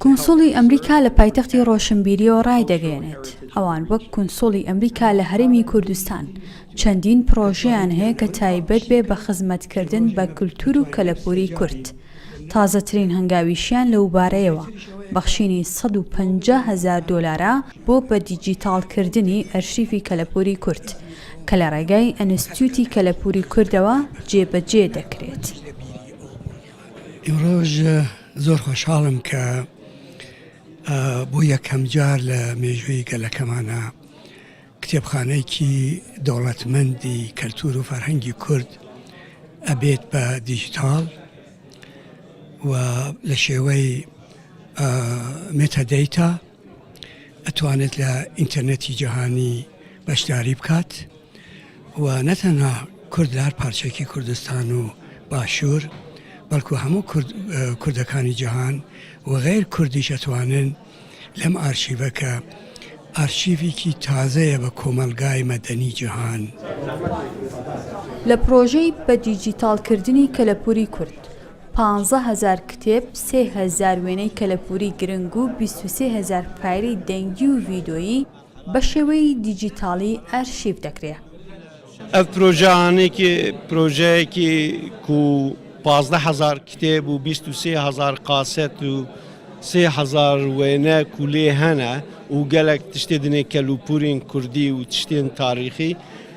کونسوڵی ئەمریکا لە پایتەختی ڕۆشنبیریەوە ڕایدەگەیەنێت، ئەوان وەک کونسوڵی ئەمریکا لە هەرێمی کوردستان چەندین پڕۆژەیان هەیە کە تایبەت بێ بە خزمەتکردن بە کلتور و کەلەپوری کورد، تازەترین هەنگاویشیان لەوبارەیەوە بەخشینی سەد و پەنجا هەزار دۆلارە بۆ بە دیجیتاڵکردنی ئەرشیفی کەلەپوری کورد کە لە ڕێگای ئەنستیوتی کەلەپوری کوردەوە جێبەجێ دەکرێت. ئیمڕۆژ زۆر خۆشحاڵم کە بۆ یەکەم جار لە مێژووی گەلەکەمانە کتێبخانەیەکی دەوڵەتمەندی کەلتور و فەرهەنگی کورد ئەبێت بە دیجیتال و لە شێوەی متەدەیتا ئەتوانێت لە ئینتەرنێتی جیهانی بەشداری بکات و نەتەنها کورد لە هەر پارچێکی کوردستان و باشوور بەڵکو هەموو کوردەکانی جیهان و غیر کوردیش ئەتوانن لەم ئارشیڤە کە ئارشیڤێکی تازەیە بە کۆمەلگای مەدەنی جیهان. لە پرۆژەی بە دیجیتاڵکردنی کەلەپوری کورد پانزە هەزار کتێب، سێ هەزار وێنەی کەلەپووری گرنگ و بیست و سێ هەزار فایلی دەنگی و ڤیدۆیی بە شێوەی دیجیتاڵی ئەرشیف دەکرێ. ئەڤ پرۆژە ئانیکی پرۆژەیەکی کو پازدە هەزار کتێب و بیست و سێ هەزار قاسێت و سێ هەزار وێنە کو لێ هەنە و گەلەک تشتێ دنێ کەلوپوورین کوردی و تشتێن تاریخی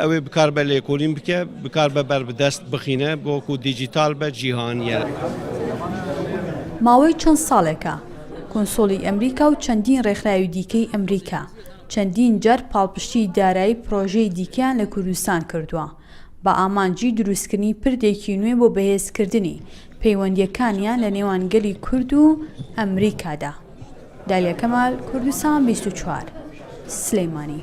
ئەوێ بکار بە لێکۆلین بکە بکار بە بەر بدەست بخینە بۆکو دیجیتال بە جیهانیە. ماوەی چەند ساڵێکە کونسوڵی ئەمریکا و چەندین ڕێکخراوی دیکەی ئەمریکا چەندین جار پاڵپشتیی دارایی پڕۆژەی دیکەیان لە کوردستان کردووە بە ئامانجی دروستکردنی پردێکی نوێ بۆ بەهێزکردنی پەیوەندییەکانیان لە نێوان گەلی کورد و ئەمریکادا. دالیا کەمال، کوردستان بیست و چوار، سلێمانی.